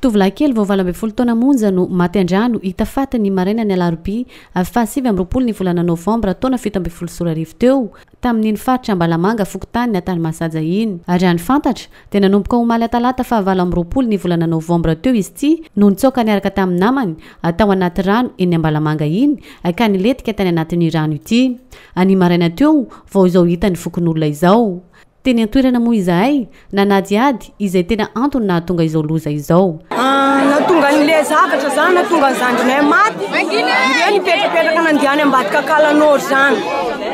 Tovolahy kely vao valo ambin'ny folo taona monja no maty an-drano, hita faty ny marainan'ny alarobia fahasivy amby roapolo ny volana novambra taona fito ambin'ny folo sy roa arivo teo, tamin'iny faritra Ambalamanga fokontany Antanimahashaja iny. Raha ny fantatra, dia nanomboka omaly atalata fahavalo amby roapolo ny volana novambra teo izy ity no nitsoaka niaraka tamin'ny namany tao anaty rano eny Ambalamanga iny ka nilentika tany anatin'io rano ity. Anio maraina teo vao izao hita ny fokonolona izao. Teny an-toerana moa izahay, nanadihady izay tena antony nahatonga izao loza izao. Nahatonga an'ilay zavatra izany, nahatonga ny zandrinay maty, ireo nipetrapetraka nandeha any ambadika Akala Nord izany.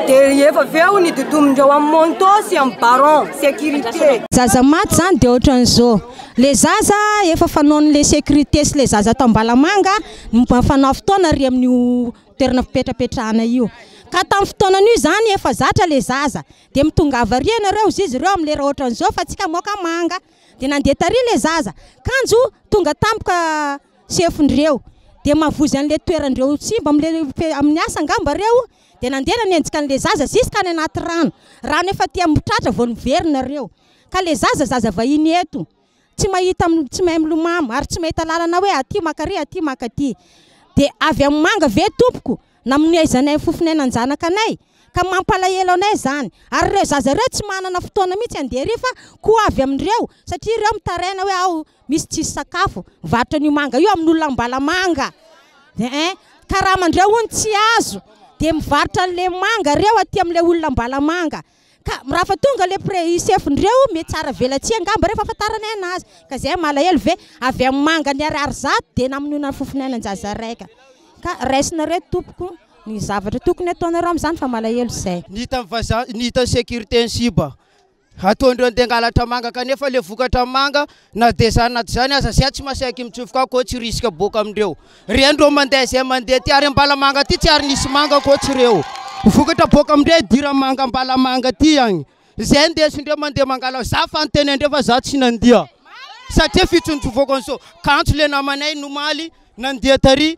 Dia efa avy eo nidodomin'ireo amin'ny Monto sy amin'ny Baron, sécurité. Zaza maty izany dia ohatran'izao, ilay zaza efa fanaon'ilay sécurité sy ilay zaza ato Ambalamanga no mba fanao fotoana ary amin'io toerana fipetrapetrahana io. Ka tamin'ny fotoanan'io izany efa zatra ilay zaza, Dia mitongava ary ianareo hozy izy ireo amin'ny lera ohatran'izao fa tsika moka manga. Dia nandeha tary ilay zaza. Kanjo tonga tampoka sefondreo. Dia mavozy an'ilay toerandreo tsy mba amin'ilay amin'ny asa angamba reo. Dia nandeha nanenjika an'ilay zaza ziska any anaty rano. Rano efa aty amin'ny tratra vao niverina reo. Ka ilay zaza zaza vahiny eto. tsy mahita tsy mahay milomamo ary tsy mahita lalana hoe aty maka ary aty maka aty dia avy amin'ny manga ve tompoko na amin'ny aizanay ny fofon'ainan-janaka anay ka mampalahelo anay izany ary ireo zaza ireo tsy manana fotoana mihitsy handeha ery fa koa avy amin'ireo satria ireo mitaraina hoe aho misy tsisy sakafo varotra an'io manga io amin'olona ambalamanga eh karaman'ireo hono tsy azo dia mivarotra an'ilay manga ireo aty amin'ilay olona ambalamanga Ka rafa tonga le pre chef ndreo mety tsy aravelatsihy angamba reo fa afantaranay anazy ka zay malahelo ve avy am mangany ariary zato de namonoana fofona an jaza raika ka raisinareo tompoko ny zavatra tokony ataonareo am zany fa malahelo zay. Ny hitan'ny vazaha, ny hitan'ny sécurité ny siba hataondreo handeha hangalatra manga kanefa le vokatra manga Na dia izany na dia izany aza, zay tsy masaiky mitsofoka aho koa tsy risika boaka amin'ireo reny ireo mandeha izay mandeha aty ary Ambalamanga aty tsy ary nisy manga ankoatra ireo vokatra boaka amin'ireo hidiran'ny manga Ambalamanga aty agny izay ndesindreo mandeha mangala za fa nitenendreo fa za tsy nandia satria fitsonjovako an'izao kanjo le namanay nomaly nandia tary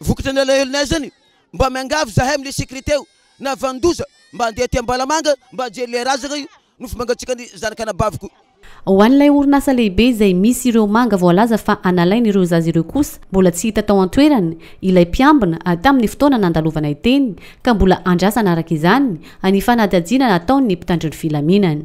Vokatra ny alahelonay zany mba miangavy zahay amle securite eo na vanindoza mba andeha aty Ambalamanga mba ajery le razagna io nofo mangatsiaka ny zanaka anabaviko. Ho an'ilay orinasa lehibe izay misy ireo manga voalaza fa analainy ireo zaza ireo kosa, mbola tsy hita tao an-toerana ilay mpiambina tamin'ny fotoana nandalovanay teny ka mbola andrasana araka izany ny fanadihadiana nataon'ny mpitandro ny filaminana.